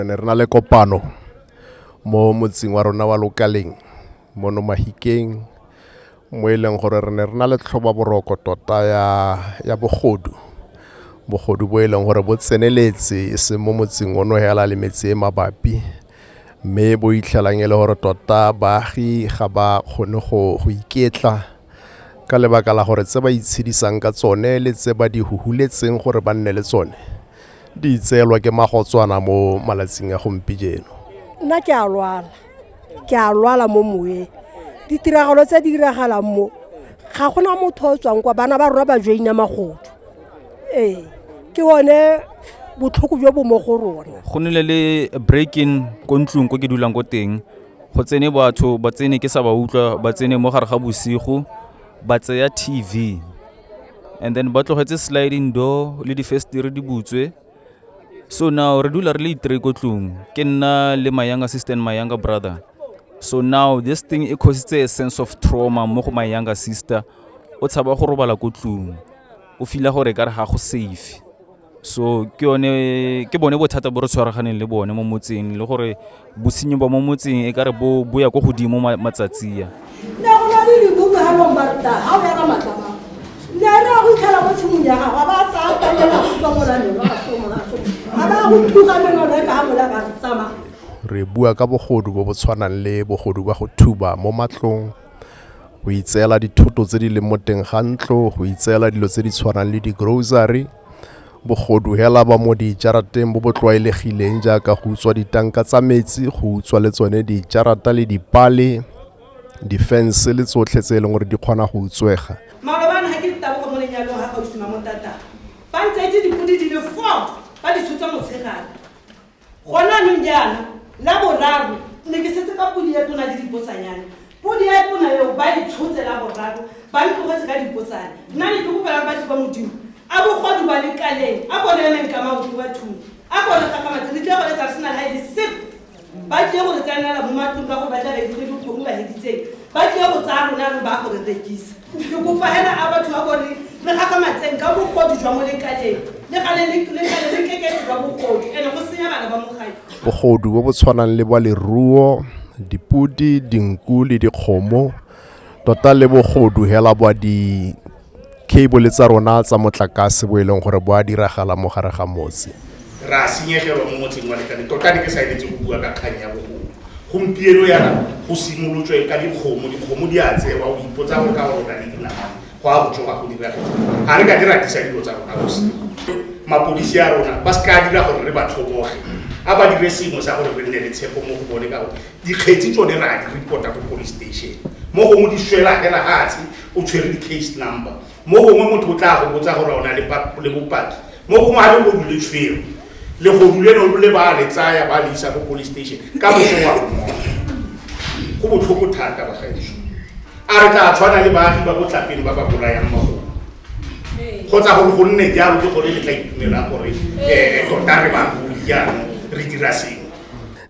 re ne re na le kopano mo motseng wa rona wa lokaleng mono mahikeng mo e leng gore re ne re na le tlhoba boroko tota ya, ya bogodu bogodu bo e leng gore bo tseneletse e seng mo motseng ono hela le metse e mabapi mme bo itlhelang e le gore tota baagi ga ba kgone go iketla Ka lebaka la gore tse ba itshedisang ka tsone le tse ba di huhuletseng gore ba nne le tsone di itseelwa ke magotswana mo malatsing a gompijeno. Nna ke a lwala, ke a lwala mo moweng. Ditiragalo tse di diragalang mo, ga gona motho o tswang kwa, bana ba rona ba joina magodu. Ee, ke one botlhoko jo bo mo go rona. Go nile le break-in ko ntlong ko ke dulang ko teng. go tsene batho ba tsene ke sa ba utlwa ba tsene mo gare ga bosigo ba tseya tv and then ba tlogetse sliding door le difestere di butswe so now re dula re le itre ko tlong ke nna le my younger sister and my younger brother so now this thing e cositse a sense of trauma mo go my younger sister o tshaba go robala ko tlong o fila gore ka re ga go safe so ke yone ke bone bothata bo re tshwaraganeng le bone mo motseng le gore bosenyi ba mo motseng e kare bo bo ya ko godimo matsatsi ya ne go na le libuku ga long barta ga o ya ka matlama ne re ya go itlhela mo tshimong ya gago ba tsaya kalela supa molanelo ga so moraso ga ba go thuka meno le ka ga mola ka re tsamaya re bua ka bogodu bo bo tshwanang le bogodu ba go thuba mo matlong go itseela dithoto tse di leng mo teng ga ntlo go itseela dilo tse di tshwanang le di-grocery bogodu hela ba mo dijarateng bo bo tlwaelegileng jaaka go utswa ditanka tsa metsi go utswa le tsone dijarata le dipale difense le tsotlhe tse e leng gore di kgona go utswega malobane ga ke ditabogo mo lenyalong ga gausi mamotata ba ntse itse dipodi di le four ba di tshotsa motshegare gone anong jaana la boraro ne ke setse ka podi ya tona le dipotsanyane podi ya tona eo ba e tshotse la boraro ba le tlogetse ka dipotsane nna ne ke kopelang batho ba modimo a bogodi ba lekaleng a bone emeng ka maoto ba thuni a bone gagamatse re tle go letsa sena la ele sep ba tle go re tsenela mo matlong ka gore ba tla re dikgwedi kgomo ba heditseng ba tle go tsaya rona re ba go re rekisa Ke kopa hela a batho ba bone re gagamatseng ka bogodu jwa molekaneng le gale le le gale le keketse jwa bogodu ene go senya bana ba mogadi. Bogodu bo bo tshwanang le bwa leruo, dipodi, dinku le dikgomo, tota le bogodu hela bwa di cable tsa rona tsa motlakase bo e leng gore bo a diragala mo gare ga motse. Re a senyegelwa mo motseng wa Lekane. Tota ne ke sa eletse go bua ka kgang ya bogodu. Gompieno yana go simolotswe ka dikgomo, dikgomo di a tsewa, o ipotsa gore ka gore o na le dinamane, go a go tsoga go dira eng. Ga re ka di ratisa dilo tsa rona bosigo. Mapodisi a rona ba se ka dira gore re ba tlhoboge, a ba dire sengwe sa gore re nne le tshepo mo go bone ka gore dikgetsi tsone re a di report-a ko police station. Mo gongwe di swela fela fatshe o tshwere di-case number. mo gongwe motho o tla go botsa gore o na le bopaki mo gongwe ga legodu le tshwere legodu le no le ba le tsaya ba le isa ko police station ka motho wa mmoa go botlhoko thata bagaetso a re tla tshwana le baagi ba botlapele ba ba bolayang magolo kgotsa gore go nne jalo ke gore le tla itumela gore um tota re bagodi jaanong re dira sengwe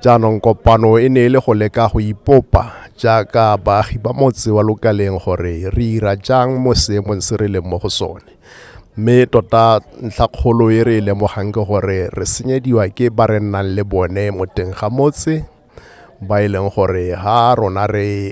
Jaanong kopano e ne e le go leka go ipopa jaaka baagi ba motse wa lokaleng gore re ira jang mo seemong se re leng mo go sone. Mme tota ntlha kgolo e re e lemogang ke gore re senyediwa ke ba re nnang le bone mo teng ga motse ba e leng gore ha rona re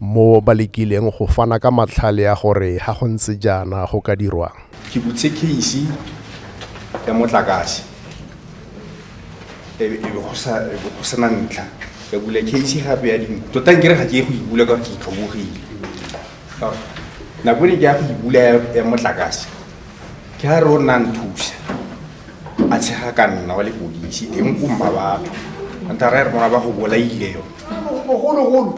mo ba lekileng go fana ka matlhale a gore ga go ntse jaana go ka dirwang. Ke butse case ya motlakase e be go sena ntlha ka bula case gape ya dingwe tota nkere ga ke ye go ibula ka ke itlhobogile nako ne ke ya go ibula ya motlakase ke ga re o nna nthusa a tshega ka nna wa lepodisi teng ko mmabatho anta ra re mona ba go bolaile yone bogologolo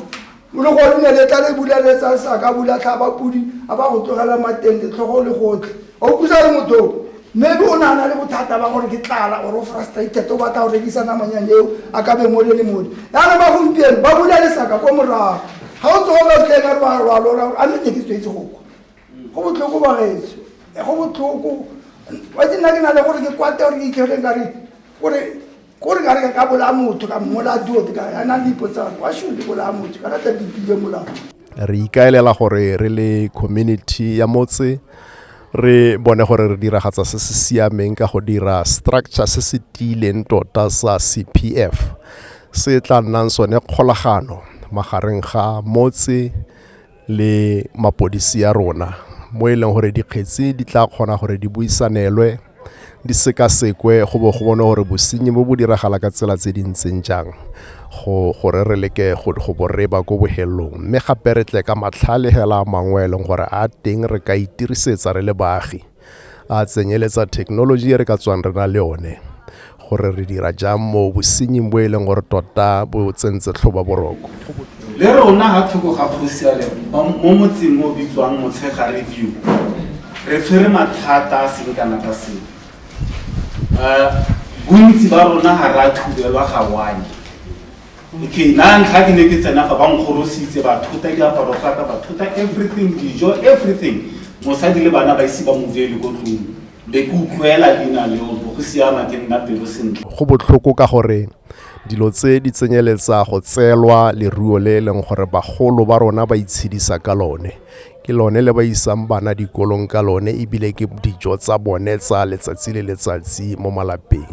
o le gone ne le tla le bula le tsa sa ka bula tlhaba pudi a ba go tlogela mateng letlhogo le gotlhe a o pusa le motho maybe o nana le bothata ba gore ke tlala or o frustrated o batla go rekisa namanyane eo a ka beng o le le mone yana ba gompieno ba bula lesaka ko morago ga o tsogo ka tlhe ka rwa rwa lora a mme ne ke tswetse go kwa go botlhoko ba gaetsho go botlhoko wa ke nna ke na le gore ke kwate gore ke itlhele ka re gore ko re ka re ka ka bolaya motho ka mmolaya duote ka a na le ipotsang wa should ke bolaya motho ka rata dipile molao re ikaelela gore re le community ya motse re bone gore re diragatsa se se siameng ka go dira structure se se tiileng tota sa cpf se tla nnang sone kgolagano magareng ga motse le mapodisi ya rona mo e leng gore dikgetsi di tla kgona gore di buisanelwe di sekasekwe go bo go bone gore bosenyi bo bo diragala ka tsela tse di ntseng jang go gore re leke go go bo re ba ko bohelong mme gape re tle ka matlhale hela a mangwe e leng gore a teng re ka itirisetsa re le baagi a tsenyeletsa thekenoloji e re ka tswang re na le one gore re dira jang mo bosenying bo e leng gore tota bo tsentse tlhoba boroko le rona ga thoko ga kgosiale mo motseng o bitswang motshega review re tshwere mathata a seng kana ka seo um bontsi ba rona ga re a thubelwa ga one Okay, na ntlha ke ne ke tsena fa ba nkgorositse ba thota diaparo tsa ka ba thota everything dijo everything mosadi le bana ba ise ba movele ko tlong be ke utlwela leina leo bo go siama ke nna pelo sentle go botlhoko ka gore dilo tse di tsenyeletsa go tseelwa leruo le e leng gore bagolo ba rona ba itshedisa ka lone ke lone le ba isang bana dikolong ka lone ebile ke dijo tsa bone tsa letsatsi le letsatsi mo malapeng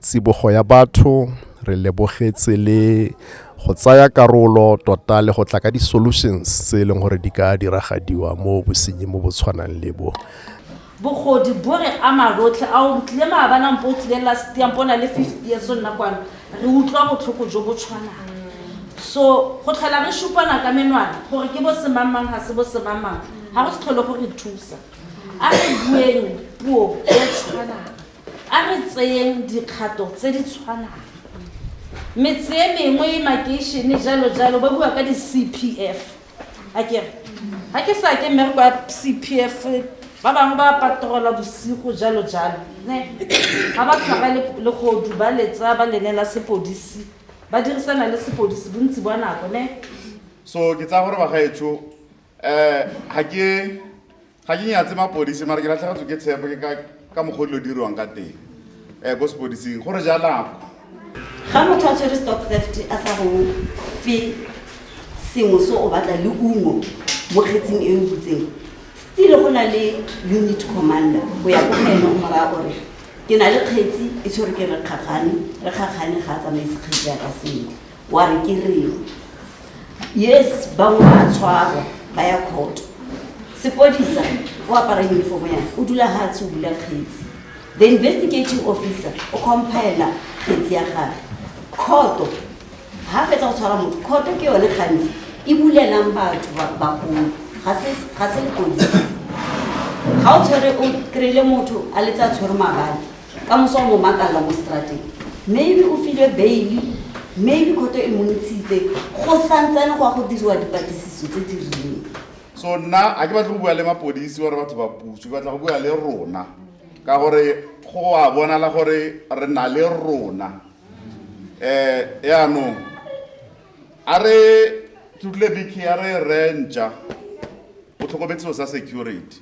tsibogo ya batho re lebogetse le go tsaya karolo tota le go tla ka di-solutions tse e leng gore di ka diragadiwa mo bosenyi mo bo tshwanang le bo bogodi bo re ama rotlhe a o tlile maabanang po o tlile last year po na le fifty years o nna kwano re utlwa botlhoko jo bo tshwanang so go tlhola re supana ka menwana gore ke bo semangmang ga se bo semangmang ga go se tlhole go re thusa a re bueng puo e tshwanang A re tseyeng dikgato tse di tshwanang. Metse e mengwe, makeišene, jalo jalo, ba bua ka di-CPF. A kere, ga ke sa ke mmereko ya CPF, ba bangwe ba patrola bosigo, jalo jalo. Ne? Ga ba tshwara le- legodu, ba letsa, ba lenela sepodisi, ba dirisana le sepodisi bontsi bwa nako, ne? So, ke tsaya gore bagaetsho um ga ke ga ke nyatse mapodisi mara ke latlhagatswe ke tshepo ke ka mokgwa dilo dirwang ka teng um ko sepodising gore jalako ga motho a tshwere stock theft a sa go fe sengwe se o batla le ungo mo kgetsing e o butseng stile go na le unit commander go ya ko ene o moraya gore ke na le kgetsi e tshwere ke re kgakgane re kgakgane ga a tsamaise kgetsi ya ka sentle wa re ke reng yes bangwe ba tshwarwa ba ya kgoto sepodisa o apara uniform ya o dula ga tshe o bula kgetsi the investigating officer o compaela kgetsi ya gage kgoto ga fetsa go tshwara motho kgoto ke yone gantsi e bulelang batho bagolo ga se lepodisa ga o tshwere o kry-ile motho a letse a tshwere mabadi ka moso o mo makalla mo strateng maybe o filwe baile maybe khoto e montshitse go santsane go ya go diriwa dipatlisiso tse di rileng so nna a ke batle go bua le mapodisi gore batho ba puso ke batla go bua le rona ka gore go a bonala gore re na le rona um yaanong a re tutle biki a re rentša o tlhokometseo sa security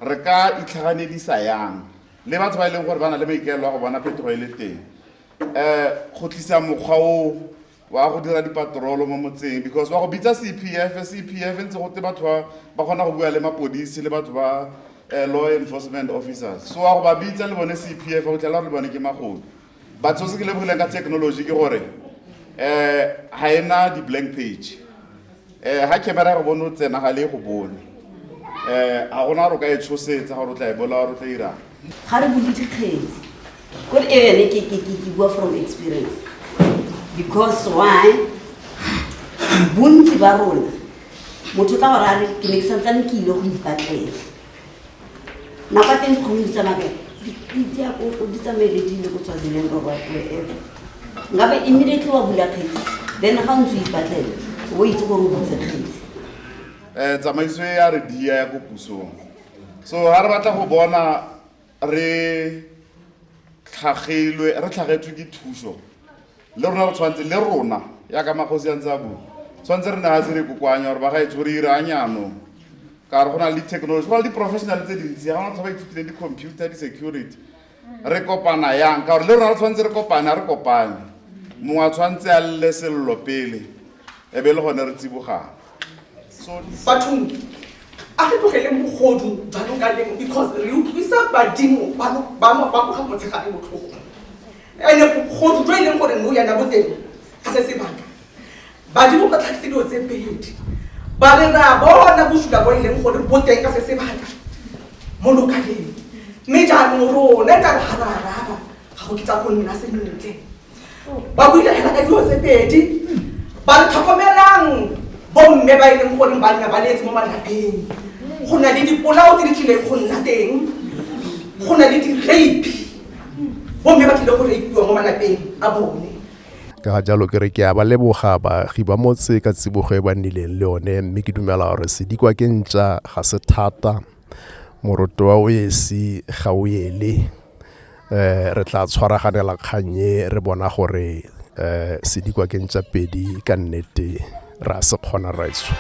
re ka itlhaganedisa yang le batho ba e leng gore ba na le maikaelo a go bona phetogo e le teng um go tlisa mokgwa o wa go dira dipatrolo mo motseng because wa go bitsa c p f c p f ntse gote batho ba ba kgona go bua le mapodisi le batho ba um law enforcement officers so wa go ba bitsa le bone c p f o tlhela gore le bone ke magodu batho se ke lebogileng ka technology ke gore um ga e na di-blank page um ga camera ya go bone o tsena ga le go bone um ga gona gore o ka e tshosetsa gore o tla e bola gore o tla irang ga re bule dikgetsi ko re ene ke ke ke ke bua from experience because why bontsi ba rona motho ka gore a re ke ne ke santsane ke ile go ipatlela nako a teng kgomedi tsa mabele dipitse ya koko di tsamaele di ile go tswa dileng ka whatever nkabe immediately wa bula kgetsi then ga o ntse o ipatlele o itse gore o butse kgetsi um tsamaiso e ya re dia ya ko pusong so ga re batla go bona re tlhagelwe re tlhagetswe ke thuso le rona re tshwanetse le rona ya ka magosi a ntse a bua tshwanetse re ne ga se re kokoanya gore ba ga etse gore ire a nyanong ka re go na le di-technology go na le di-professional tse dintsi ga gona tlha ba ithutileng di-computer di-security re kopana yang ka gore le rona re tshwanetse re kopane a re kopane mongwe a tshwanetse a lle selelo pele e be le gone re tsibogang bathong a re tlogele mogodu jalo ka lemo because re utlwisa badimo ba moga motshegare botlhoko ande bogodu jo e leng gore no yana boteng ga se sebaka badimo ba tlhagise dilo tse pedi ba re re a bona bosula bo e leng gore boteng ka se sebaka mo lokaleng mme jaanong rona e ka re ga ra araba ga go kitsa go nna sentle ba buile fela ka dilo tse pedi ba re tlhokomelang bomme ba e leng goreng ba nna ba leetse mo malapeng go na le dipolao tse di tlileng go nna teng go na le di-rape bomme ba tlile go rapiwa mo malapeng a bone ka ga jalo ke re ke a ba leboga baagi ba motse ka tsibogo e ba nnileng le yone mme ke dumela gore sedikwa ke ntša ga se thata moroto wa o esi ga o ele, re tla tshwaraganela kgang e re bona gore sedikwa ke ntšapedi ka nnete re a se kgona rraetsho.